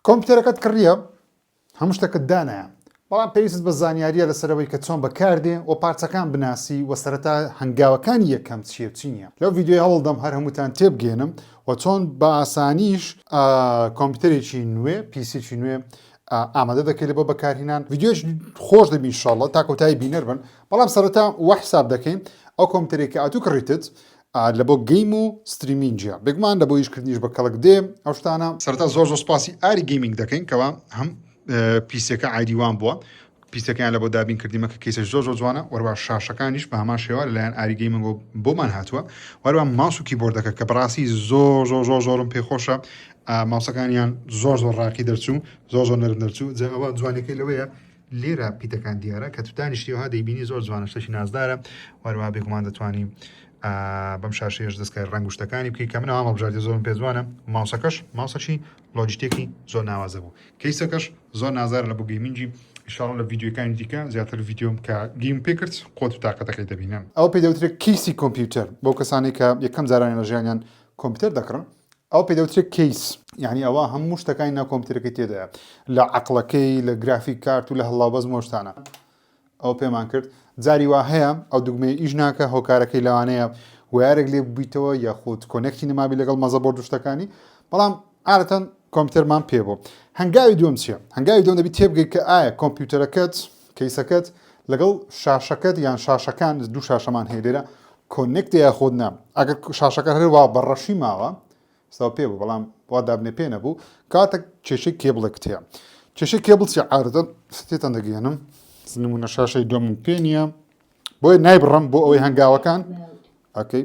کۆمپیوتەرەکەت کڕیە هەموو شتەکت دانایە بەڵام پێویستت بە زانیاریە لەسەر ئەوەی کە چۆن بەکاردێ و پارچەکان بناسی و سەرەتا هەنگاوەکانی یەکەم چیە و چی نیە لەو ڤیدیۆیە هەوڵدەم هەر هەمووتان تێبگەێنم و چۆن بە ئاسانیش کۆمپیوتەرێکی نوێ پیسێکی نوێ ئامادە دەکەیت بۆ بەکارهینان ڤیدیۆش خۆش دەبین شڵە تا کۆتایی بینەر بن بەڵام سەرەتا وە حساب دەکەین ئەو کۆمپیوتەرێک کە ئاتوو کڕیتت لەبۆ گەیم و ستریمینجە بێگومان لەبۆ ئیش کردنیش بە کەڵک دێ ئەو شتانە. سەرەتا زۆر زۆر سوپاسی ئاری گەیمینگ دەکەین کەوا هەم پیسیەکە ئایدی وان بووە پیسەکەیان لە بۆ دابین کردیمە کە کەیسە زۆر زۆر جوانە وەروە شاشەکانیش بە هەمان شێوە لەلایەن ئاری گەیمنگ بۆمان هاتووە وەروە ماوس و کیبۆردەکە کە بڕاستی زۆر زۆر زۆر زۆرم پێخۆشە ماوسەکانیان زۆر زۆر ڕاقی دەرچوو زۆر زۆر نەرم دەرچوو جاوە جوانەکەی لەوەیە لێرە پیتەکان دیارە کە تو دانیشتیەوە دەیبینی زۆر جوانە شتێکی نازدارە وەروە بێگومان دەتوانانی بەم شاشەیەش دەستکای ڕنگ و شتەکانی بکەی کە من ئەوام بژاردی زۆرم پێ جوانە ماوسەکەش ماوسەچی لۆجیتێکی زۆر ناوازە بوو کەیسەکەش زۆر نازار لە بۆ گەیمنجی شاڵ لە ڤیددیوەکانی دیکە زیاتر ڤیددیۆم کە گیم پێکرد قۆت و تااقەتەکەی دەبینم ئەو پێدەوترێت کیسی کۆمپیوتەر بۆ کەسانی کە یەکەم جارانی لە ژیانیان کۆمپیوتەر دەکڕن ئەو پێ دەوترێت کەیس یعنی ئەوە هەموو شتەکانی ناو کۆمپیوتەرەکەی تێدایە لە عقلەکەی لە گرافیک کارت و لە هەڵاوبەز مۆشتانە ئەو پێمان کرد جاری وا هەیە ئەو دوگمەیە ئیش ناکە هۆکارەکەی لەوانەیە وارێک لێ ببیتەوە یاخود کۆنێکتی نەمابی لەگەڵ مەزە بۆ دوشتەکانی بەڵام عادەتەن کۆمپیوتەرمان پێ بوو هەنگاوی دووەم چییە هەنگاوی دووەم دەبی تێبگەی کە ئایا کۆمپیوتەرەکەت کەیسەکەت لەگەڵ شاشەکەت یان شاشەکان دوو شاشەمان هەیە لێرە کۆنێکتە یاخود نا ئەگەر شاشەکە هەر وا بەڕەشی ماوە ستا پێ بوو بەڵام وا دابنێ پێ نەبوو کاتە کێشەی کێبڵێکت هەیە کێشەی کێبڵ چی عادەتەن ستێتان دەگەێنم نمونە شاشەی دوم پێ نییە بۆیە نایبڕم بۆ ئەوەی هەنگاوەکان ئەکەی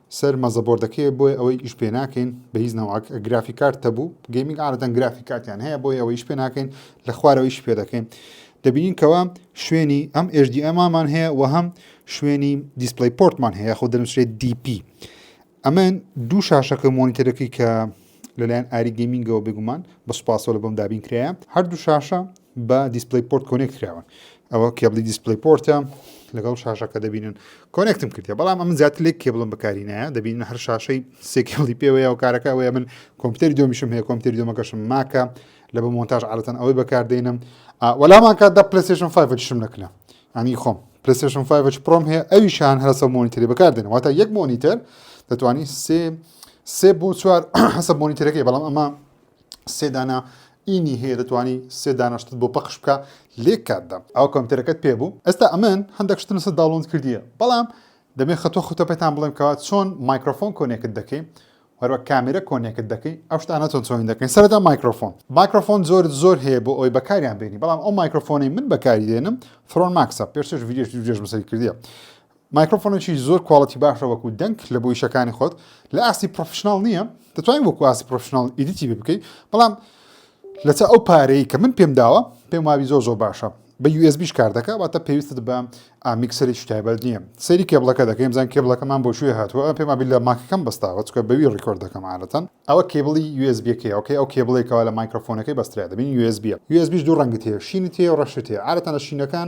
سەر مەزەبۆردەکەیە بۆیە ئەوەی ئیش پێ ناکەین بە هیچ نەوعەک گرافی کارت تەبوو گەیمینگ عادەتەن گرافی کارتیان هەیە بۆیە ئەوەی ئیش پێ ناکەین لە خوارەوەیش پێ دەکەین دەبینین کەوا شوێنی ئەم ئێژدی ئەمامان هەیە و هەم شوێنی دیسپلی پۆرتمان هەیە خۆ دەنووسێت دیپی ئەمن دوو شاشەکە مۆنیتەرەکەی کە لەلایەن ئاری گەمینگەوە بگومان بە سوپاسەوە لە بەم دابین کرایە هەردوو شاشە بە دیسپلەی پۆرت کۆنێکت کراون ئەوە کێبلی دیسپلەی پۆرتە لەگەڵ شاشەکە دەبینن کۆنێکتم کردە بەڵام ئەم زیاتر لێک کێبڵم بەکاری نایە دەبین هەر شاشەی سێکێڵی پێوەیە و کارەکە ئەوەیە من کۆمپیوتەری دۆمیشم هەیە کۆمپیوتەری دۆمەکەشم ماکە لە بە مۆنتاژ عادەتەن ئەوەی بەکاردێنم وەلامان کات دە پلسێشن 5 شم نەکرا ئەنی خۆم پلسێشن 5 پرۆم هەیە ئەوی شان هەرسە مۆنیتری بەکاردێن واتە یەک مۆنیتەر دەتوانانی سێ سێ بۆ چوار حەسە مۆنیتەرەکەی بەڵام ئەمە سێ دانە ی نی هەیە دەتوانی سێ دانە شتت بۆ پەخش بکە لێک کات دەم ئەو کۆمپیوتەرەکەت پێ بوو ئێستا ئەمن هەندێک شتم لەسەر داونلۆد کردیە بەڵام دەبێ خەتۆ خوتە پێتان بڵێم کەوا چۆن مایکرۆفۆن کۆنێکت دەکەی هەروە کامێرە کۆنێکت دەکەی ئەو شتانە چۆن چۆنی دەکەین سەرەتا مایکرۆفۆن مایکرۆفۆن زۆر زۆر هەیە بۆ ئەوی بەکاریان بێنی بەڵام ئەو مایکرۆفۆنەی من بەکاری دێنم فرۆن ماکسە پێشتش ڤیدیۆش ڤیدیۆش بەسەری کردیە مایکرۆفۆنێکی زۆر کواڵیتی باشە وەکو دەنگ لە بۆ ئیشەکانی خۆت لە ئاستی پڕۆفیشناڵ نییە دەتوانین وەکو ئاستی پڕۆفیشناڵ ئیدیتی بێ بکەیت بەڵام لەچە ئەو پارەیە کە من پێم داوە پێم وابی زۆر زۆر باشە بە USBش کار دەکە واتە پێویستت بە ئامیکسەرێکی تایبەت نییە سەیری کێبڵەکە دەکەین بزان کێبڵەکەمان بۆ شوێ هاتووە پێم وابی لە ماکەکەم بەستاوە چکە بەوی ڕیکۆرد دەکەم عادەتەن ئەوە کێبڵی USBەکەی ئەوکەی ئەو کێبڵێکەوە لە مایکرۆفۆنەکەی بەسترا دەبین USBە USBش دوو ڕەنگت هەیە شینت هەیە و ڕەشت هەیە عادەتەن لە شینەکان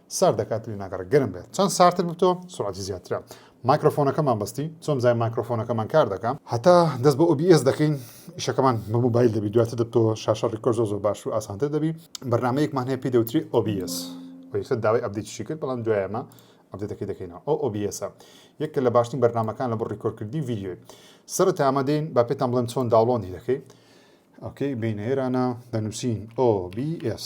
سارد دەکات لێ ناگەڕێ گەرم بێت چەند سارتر ببتەوە سرعەتی زیاترە مایکرۆفۆنەکەمان بەستی چۆن زای مایکرۆفۆنەکەمان کار دەکا هەتا دەست بە OBS دەکەین ئیشەکەمان بە موبایل دەبی دواتر دەبتەوە شاشە ڕیکۆر زۆ زۆ باش و ئاسانتر دەبی بەرنمەیەکمان هەیە پێی دەوتری OBS ویسە داوای ئەبدیتشی کرد بەڵام دوایەمە ئەبدەکەی دەکەینەوە ئەو OBS یەکە لە باشترین بەرنمەکان لە بۆ ڕیکۆرکردی ویددیوی سەر تامە دێن با پێتان بڵێن چۆن داوڵۆندی دەکەیت ئۆکەی بینێرانە دەنووسین OBS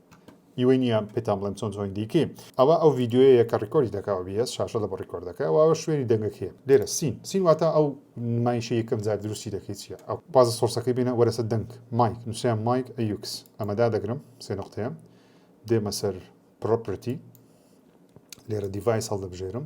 ی وی نیە پێتان بڵێم چۆن جۆین دیکەی ئەوە ئەو ڤیدیۆیە کە ڕیکۆری دەکا و بیەس شاشە لە بە ڕیکۆر دەکە ئەوە شوێنی دەنگەکەیە لێرە سین سین واتە ئەو نمایشە یەکەم جار دروستی دەکەی چیە ئەو بازە سۆرسەکەی بینە وەرەسە دەنگ مایک نووسیان مایک ئەیوکس ئەمەدا دەگرم سێ نقطەیە دێمە سەر پرۆپرتی لێرە دیڤایس هەڵدەبژێرم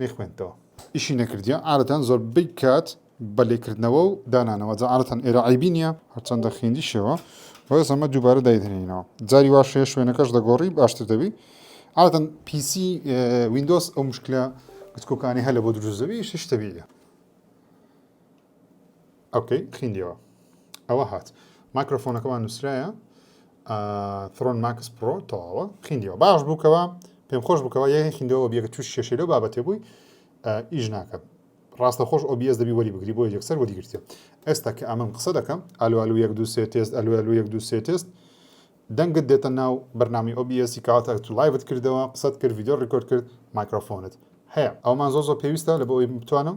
نەیخوێندتەوە. ئیشی نەکردیە عادەتەن زۆربەی کات بە لێکردنەوە و دانانەوە جا عادەتەن ئێرە عەیبی نیە هەرچەندە خیندیشەوە بەس ئەمە دووبارە دایدهنینەوە جاری واش هەیە شوێنەکەش دەگۆڕی باشتر دەبی عادەتەن پیسی ویندۆس ئەو مشکلە گچکۆکانی هەلە بۆ دروست دەبی شتەبیە ئەوکەی خیندیەوە ئەوە هات ماکرۆفۆنەکەمان نووسرایە ثرۆن ماکس پرۆ تەواوە خیندیەوە باش بووکەوە پێم خۆش بکەوە یە خیندەوە بیەکە توش کێشەی لەو بابەتێ بووی ئیش ناکە ڕاستە خۆش ئۆبیس دەبی وەری بگری بۆ یەکسەر وەری گرتێ ئێستا کە ئەمەم قسە دەکەم ئەلوالو یەک دو سێ تێست ئەلوالو یەک دو سێ تێست دەنگت دێتە ناو بەرنامی ئۆبیسی کاتە تو لایڤت کردەوە قسەت کرد یددیو ڕیکۆرد کرد مایکرۆفۆنت هەیە ئەومان زۆ زۆ پێویستە لە بۆ ئەوی بتوانم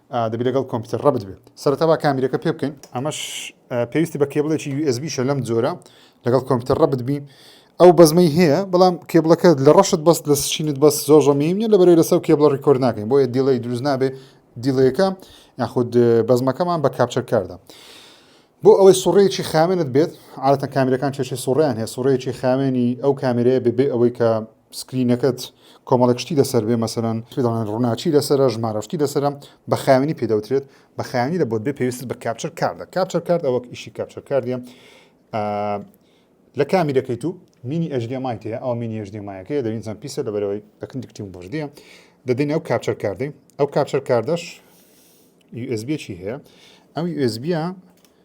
دەبی لەگەڵ کۆمپیوتەر ڕەبت بێت سەرەتا با کامیرەکە پێ بکەین ئەمەش پێویستی بە کێبڵێکی USB شە لەم جۆرە لەگەڵ کۆمپیوتەر ڕەبت بی ئەو بەزمەی هەیە بەڵام کێبڵەکە لە ڕەشت بەست لە سچینت بەس زۆر ڕەمیم نیە لە بەرەوەی لەسەر کێبڵە ڕیکۆرد ناکەین بۆیە دیڵی دروست نابێ دیڵەکە یاخود بەزمەکەمان بە کاپچەر کاردا بۆ ئەوەی سوڕەیەکی خاوێنت بێت عادەتەن کامیرەکان کێشەی سوڕیان هەیە سوڕەیەکی خاوێنی ئەو کامێرەیە ببێ ئەوەی کە سکرینەکەت کۆمەڵێک شتی لەسەر بێ مەسەلەن پێ دەڵێن ڕووناکی لەسەرە ژمارە شتی لەسەرە بە خاوێنی پێ دەوترێت بە خاوێنی لە بۆت بێ پێویستت بە کاپچەر کاردە کاپچەر کارد ئەوەک ئیشی کاپچەر کاردە لە کامی دەکەی تو مینی ئەژدێمای تەیە ئەو مینی ئەژدێمایەکەیە دەوینزان پیسە لەبەرەوەی دەکن دکتیم بەژدەیە دەدەین ئەو کاپچەر کاردەی ئەو کاپچەر کاردەش USB چی هەیە ئەم USB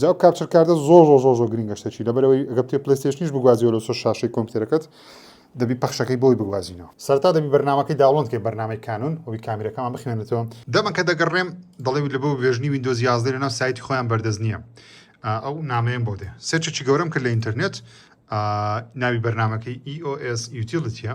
جاو کاپچر کاردە زۆر زۆر زۆر زۆر گرنگە شتەکی لەبەرەوەی گە پێ پلیستێشنیش بگوازیەوە لە سۆ شاشەی کۆمپیوتەرەکەت دەبی پەخشەکەی بۆی بگوازینەوە سەرتا دەبی بەرنمەکەی داڵۆن کە بەرنمەی کانون ئەوی کامیرەکەمان بخوێنێتەوە دەمە کە دەگەڕێم دەڵێ لە بۆ ڤێژنی وینندۆز یازدە لەناو سایتی خۆیان بەردەست نییە ئەو نامەیەم بۆ دێ سێچێکی گەورەم کرد لە ئینتەرنێت ناوی بەرنمەکەی EOS یوتیلتیە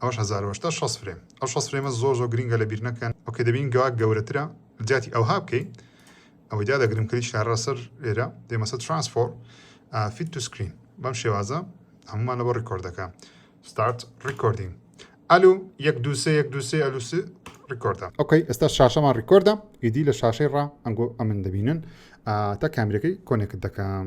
ئەوەش هەزار بەش دە شەست فرێم ئەو شەست فرێمە زۆر زۆر گرینگە لە بیر نەکەن ئۆکەی دەبین گەوا گەورەترە جاتی ئەوها بکەی ئەوەی دا دەگرم کلی شارە سەر لێرە دێمەسە ترانسفۆر فیت تو سکرین بەم شێوازە هەمومان لەبەر ڕیکۆردەکە ستارت ڕیکۆردین ئەلو یەک دوسێ یەک دوسێ ئەلوس ڕیکۆردە ئۆکەی ئێستا شاشەمان ڕیکۆردە ئیدی لە شاشەی ڕا ئەنگۆ ئەمن دەبینن تا کامیرەکەی کۆنێکت دەکەم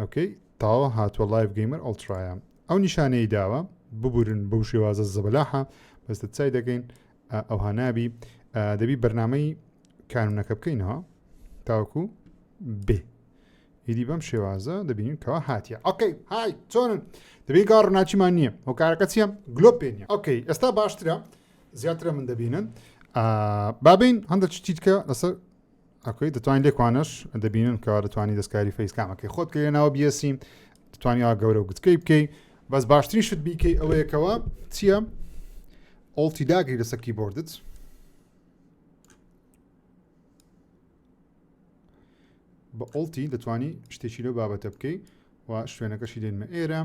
ئۆکەی تاوە هاتوە لایڤ گەیمەر ئەڵترایە ئەو نیشانەی داوە ببورن بەو شێوازە زەبەلاحە بەس دەتسای دەکەین ئەوها نابی دەبی بەرنمەی کانونەکە بکەینەوە تاوەکو بێ ئیدی بەم شێوازە دەبینین کەوا هااتە ئۆکەی های چۆنن دەبێت گا ڕناچیمان نییە ئەو کارەکە چیە گلۆ پێنیە ئۆکەی ئێستا باشترە زیاترە من دەبینن بابین هەندە چتیتکە لەسەر ئەکوی دەتوانین لێک وانەش دەبینن کەوا دەتوانانی دەستکاری فەیس کامەکەی خۆت کە لەناوە بیەسی دەتوانانی ئەوە گەورە و گوتکەی بکەی بەس باشترین شت بیکەی ئەوەیەکەوە چییە ئۆڵتی داگری لەسەر کیبۆردت بە ئۆڵتی دەتوانی شتێکی لەو بابەتە بکەی و شوێنەکەشی دێنمە ئێرە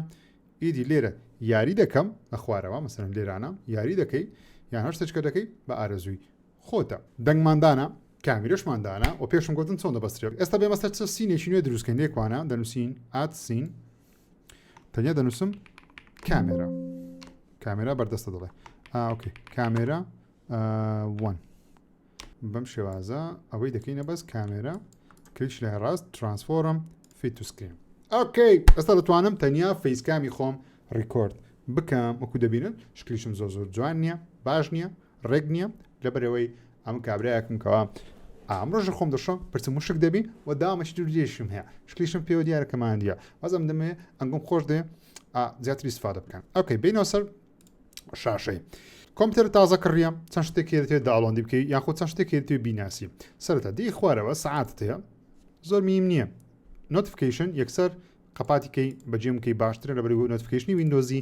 ئیدی لێرە یاری دەکەم لە خوارەوە مەسەرم لێرانە یاری دەکەی یان هەر سچکە دەکەی بە ئارەزووی خۆتە دەنگمان دانا کامیرەشمان دانا و پێشم گوتن چۆن دەبەسترێت ئێستا بێمە سەر چ سینێکی نوێ دروستکەین لێکوانە دەنووسین ئات سین تەنیا دەنووسم کامێرا کامێرا بەردەستە دەڵێ ئاوکە کامێرا وان بەم شێوازە ئەوەی دەکەینە بەس کامێرا کلیش لە ڕاست ترانسفۆرم فیتوسکرین ئۆکەی ئەستا دەتوانم تەنیا فەیسکامی خۆم ڕیکۆرد بکەم وەکو دەبینن شکلیشم زۆ زۆر جوان نییە باش نییە ڕێک نییە لەبەرەوەی ئەم کابراایەکم کەوا ئامرۆژە خۆم دەشم پرسم مشک دەبی و دامەشت و لێشم هەیە شکلیشم پێوە دیارەکەمان دیە وەزم دەمێ ئەنگم خۆش دێ زیاتری سفادە بکەن ئەوکەی بینەوە سەر شاشەی کۆمپیوتەر تازە کڕیە چەند شتێکی دەێت داڵۆندی بکەیت یاخود چەند شتێکی توێ بیناسی سەرتا دی خوارەوە سعات هەیە زۆر میم نییە نۆتفکیشن یەکسەر قەپاتیکەی بەجێمکەی باشترە لە بەرگو نۆتفکیشنی وینندۆزی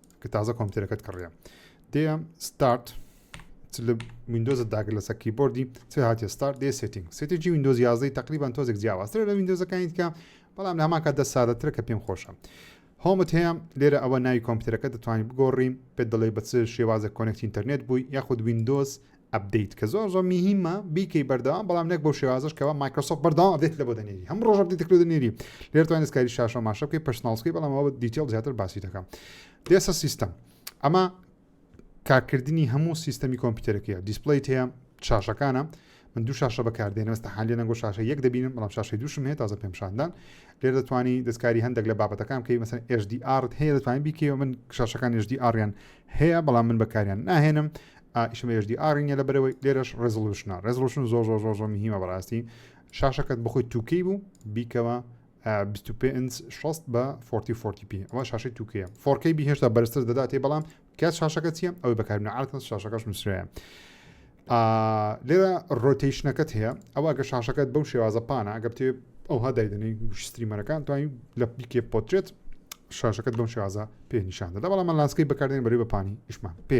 کە تازە کۆمپیوتەرەکەت کڕیە دێم ستارت لە وینندۆزت داگر لەسەر کیبۆردی چ هااتێ ستار دێ سێتنگ سێتێکی وینندۆز یازدەی تقریبان تۆزێک جیاوازتر لە وینندۆزەکانی دیکە بەڵام لە هەماکە دە سادەترە کە پێم خۆشە هۆمت هەیە لێرە ئەوە ناوی کۆمپیوتەرەکە دەتوانین بگۆڕین پێ دەڵێ بە چ شێوازە کۆنێکتی ئینتەرنێت بووی یاخود وینندۆز ئەپدەیت کە زۆر زۆر میهیمە بیکەی بەردەوام بەڵام نەک بەو شێوازەش کەەوە مایکرۆسۆفت بەردەوام ئەپدەیت لە بۆ دەنێری هەم ڕۆژە بدیتە کرو دەنێری لێر توانێت کاری شاشە ماشە بکەی پشتناڵسکی بەڵام ئەوە دیتیل زیاتر باسی دەکەم دێسە سیستم ئەمە کارکردنی هەموو سیستەمی کۆمپیوتەرەکەیە دیسپلیت هەیە شاشەکانە من دوو شاشە بەکاردێنم ئەستا حالی نەگۆ شاشە یەک دەبینم بەڵام شاشەی دوشم هەیە تازە پێمشاندان لێر دەتوانی دەستکاری هەندێک لە بابەتەکان کەی مەسن HDR هەیە دەتوانین بیکەوە من شاشەکان HDRیان هەیە بەڵام من بەکاریان ناهێنم ئا ئیشەمە ئێچ دی ئاڕی نیە لە بەرەوەی لێرەش ڕێزڵوشنە ڕێزڵوشن زۆر زۆر زۆر زۆر مهمە بەڕاستی شاشەکەت بخۆی تووکەی بوو بیکەوە 25 16 بە 40 40 پی ئەوە شاشەی تووکەیە فۆرکەی بهێشتا بەرزتر دەداتێ بەڵام کات شاشەکە چیە ئەوەی بەکاربنە عادەتەن شاشەکەش نووسراە لێرە ڕۆتیشنەکەت هەیە ئەوە گە شاشەکەت بەو شێوازە پانە ئەگە بتێ ئەوها دایدنی گوشتریمەرەکان توانین لە پیکێ پۆترێت شاشەکەت بەم شێوازە پێ نیشان دەدا بەڵام لاسکەی بەکاردێن بەری بەپانی ئیشمان پێ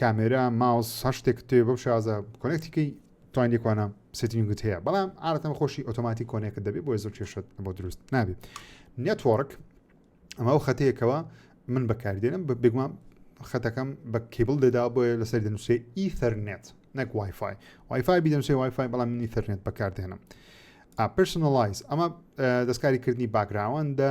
کامێرا ماوس هەر شتێکت تەوێ بەو شێوازە کۆنێکتی کەی توانی لێکوانە سێتینگت هەیە بەڵام عادەتەن خۆشی ئۆتۆماتی کۆنێکت دەبێت بۆیە زۆر کێشت بۆ دروست نابێت نێتوەڕک ئەمە ئەو خەتەیەکەوە من بەکاردێنم بە بێگومان خەتەکەم بە کیبل دەدا بۆیە لەسەر دەنووسێ ئیثەرنێت نەک وایفای وایفای بیدەنووسێ وایفای بەڵام من ئیثەرنێت بەکاردێنم پرسنلایز ئەمە دەستکاری کردنی باگراوەندە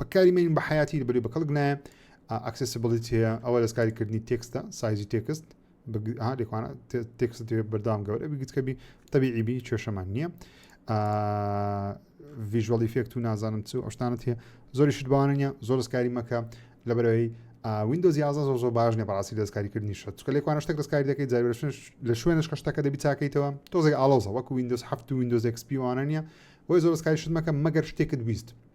بەکاری مێنین بە حیاتی بەری بە کەڵک نایە ئاکسسبلیتی هەیە ئەوە دەستکاری کردنی تێکستە سایزی تێکست لێکوانە تێکست بەردام گەورە بگیتکەبی تەبیعیبی کێشەمان نییە ڤژوەڵی فێکت و نازانم چ ئەشتانت هەیە زۆری شتباوانە نیە زۆر دەستکاری مەکە لە بەرەوەی وینندۆز یازە زۆ زۆر باش نیە بەڕاستی دەستکاریکردنی شت چکە لێکوانە شتێک دەستکاری دەکەی جای لە شوێنش کە شتەکە دەبی تاکەیتەوە تۆزێک ئاڵۆزە وەکو وینندۆز هەفت و وینندۆز ئەکسپیوانە نیە بۆی زۆر دەستکاری شتمەکە مەگەر شتێکت ویست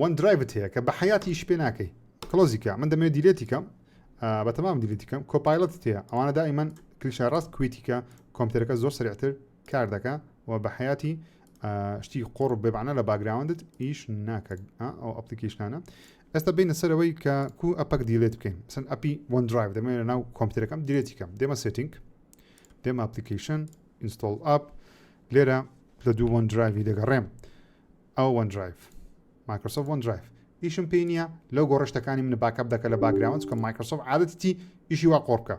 وەن درایڤت هەیە کە بە حیاتی ئیش پێ ناکەی کلۆزی کە من دەمەوێت دیلێتی کەم بە تەمام دیلێتی کەم کۆپایلەت تێ ئەوانە دائیمەن کلیشە ڕاست کویتی کە کۆمپیوتەرەکە زۆر سرعتر کار دەکە و بە حیاتی شتی قۆڕ بێبانە لە باگراوندت ئیش ناکە ئەو ئەپلیکیشنانە ئێستا بینە سەرەوەی کە کو ئەپەک دیلێت بکەین سن ئەپی وەن درایڤ دەمێن لە ناو کۆمپیوتەرەکەم دیلێتی کەم دێمە سێتینگ دێمە ئەپلیکیشن ئینستۆڵ ئاپ لێرە لە دوو وەن درایوی دەگەڕێم ئەوە وەن درایڤ مایکرۆسۆفت وەن درایڤ ئیشم پێی نییە لەو گۆڕە شتەکانی منە باکەپ دەکە لە باگراوند چکە مایکرۆسۆف عادەتی ئیشی وا قۆڕ بکە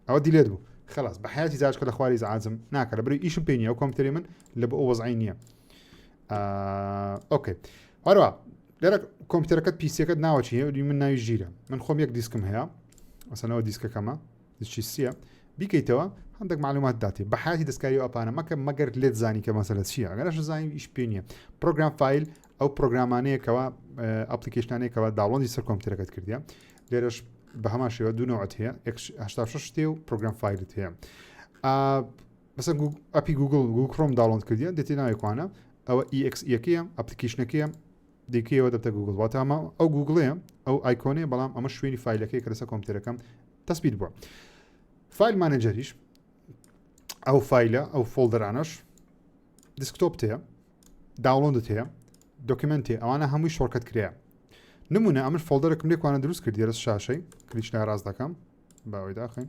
ئەوە دیلێت بوو خلاص بە حیاتی زارشکە لە خواری زعازم ناکە لە بری ئیشم پێ نیە ئەو کۆمپتری من لە بۆ وەزعی نییە ئۆکەی هەروە لێرە کۆمپیوتەرەکەت پیسەکەت ناوەچی هێوری من ناوی ژیرە من خۆم یەک دیسکم هەیە ئەسەنەوە دیسکەکەمە دچی سیە بیکەیتەوە هەندێک معلومات داتێ بە حیاتی دەستکاری و ئەپانە مەکە مەگەر لێت زانی کە مەسەلە چیە ئەگەرش زانانی ئیش پێ نیە پرۆگرام فیل ئەو پرۆگرامانەیەکەوە ئەپلیکیشنانێکەوە داڵۆنی سەر کۆمپیوتەرەکەت کردە لێرەش بە هەمان شێوە دوو نەوەت هەیە 6 شتێ و پرۆگرام فیلت هەیە بەسە ئەپی گوگل گوکڕۆم داڵۆن کردیان دێتی ناوێکوانە ئەوە EXEەکەیە ئەپلیکیشنەکەیە دیکەی ئەوە دەبتە گووگڵ واتە ئەمە ئەو گووگڵەیە ئەو ئایکۆنێ بەڵام ئەمە شوێنی فیلەکەی کە لەسەر کۆمپیوتەرەکەم تەسبیت بووە فیل مانەجەریش ئەو فیلە ئەو فۆلدەرانەش دیسکتۆپ هەیە داوڵندت هەیە دۆکیمنتی ئەوانە هەمووی شۆرکەت کرێە نمونە ئەمن فۆلدەرەکم لێکوانە دروست کرد دیێرە شاشەی کلیچ لە ڕاست دەکەم باوەی داخین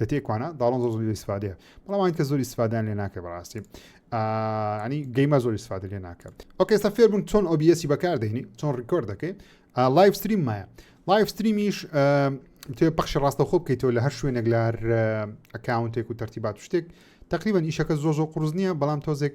لە تێکوانە داڵۆن زۆر زۆری ئیسفادەیە بەڵام ئەوان کە زۆری ئیسفادان لێ ناکە بەڕاستی ینی گەیمە زۆری ئیسفادە لێ ناکە ئۆکێستا فێربوون چۆن ئۆبیەسی بەکار دەینی چۆن ڕیکۆرد دەکەی لایف ستریم مایە لایف ستریمیش توێ پەخشی ڕاستەخۆ بکەیتەوە لە هەر شوێنێک لار ئەکاونتێک و تەرتیبات شتێک تقریبان ئیشەکە زۆ زۆ قرس نییە بەڵام تۆزێک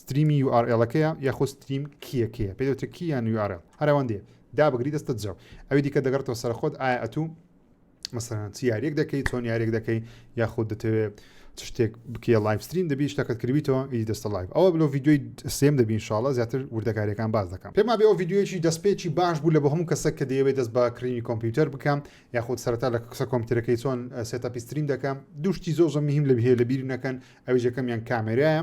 ستریمی یو ئار ئێڵەکەیە یاخۆ ستریم کیە کێیە پێی دەوترێ کی یان یو ئار ئێڵ هەر ئەوەندەیە دابگری دەستت جاو ئەوی دیکە دەگەڕێتەوە سەر خۆت ئایا ئەتوو مەسەرەن چ یاریەک دەکەی چۆن یاریەک دەکەی یاخود دەتەوێت چ شتێک بکیە لایف ستریم دەبی شتەکەت کردیتەوە ئیدی دەستە لایف ئەوە بلۆ ڤیددیوی سێم دەبین شاڵە زیاتر وردەکاریەکان باز دەکەم پێما بێەوە ڤیددیویی دەستپێکی باش بوو لە بە هەموو کەسە کە دەیەوێت دەست بە کڕینی کۆمپیوتەر بکەم یاخود سەرتا لە قسە کۆمپیوتەرەکەی چۆن سێتەپی ستریم دەکەم دوشتی زۆر زە مهم لە بهێ لە بیری نەکەن ئەویژەکەمیان کامێرایە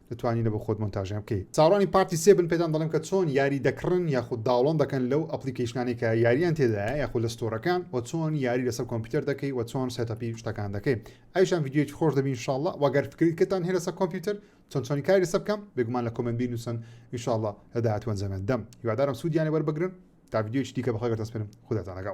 توانیوە بۆ خۆت مۆنتاژیان بکەی. چاوەڕوانی پارتی سێ بن پێتان دەڵێم کە چۆن یاری دەکڕن یاخود داوڵۆن دەکەن لەو ئەپڵیکەیشنانەی کە یاریان تێدایە یاخود لە ستۆرەکان وە چۆن یاری لەسەر کۆمپیوتەر دەکەی وە چۆن سێتەپی شتەکان دەکەی ئەویشان ڤیدیۆیەکی خۆش دەبی ان شاءاللە وە گەر فکرت کردتان هەیە لەسەر کۆمپیوتەر چۆن چۆنی کاری لەسەر بکەم بێگومان لە کۆمێنت بینوسن ان شاءاللە لە داهاتوو ئەنجامیان دەم هیوادارم سوودیان لێ وەربگرن تا ڤیدیۆیەکی دیکە بە خێربتان سپێرم خوداتان لەگەڵ.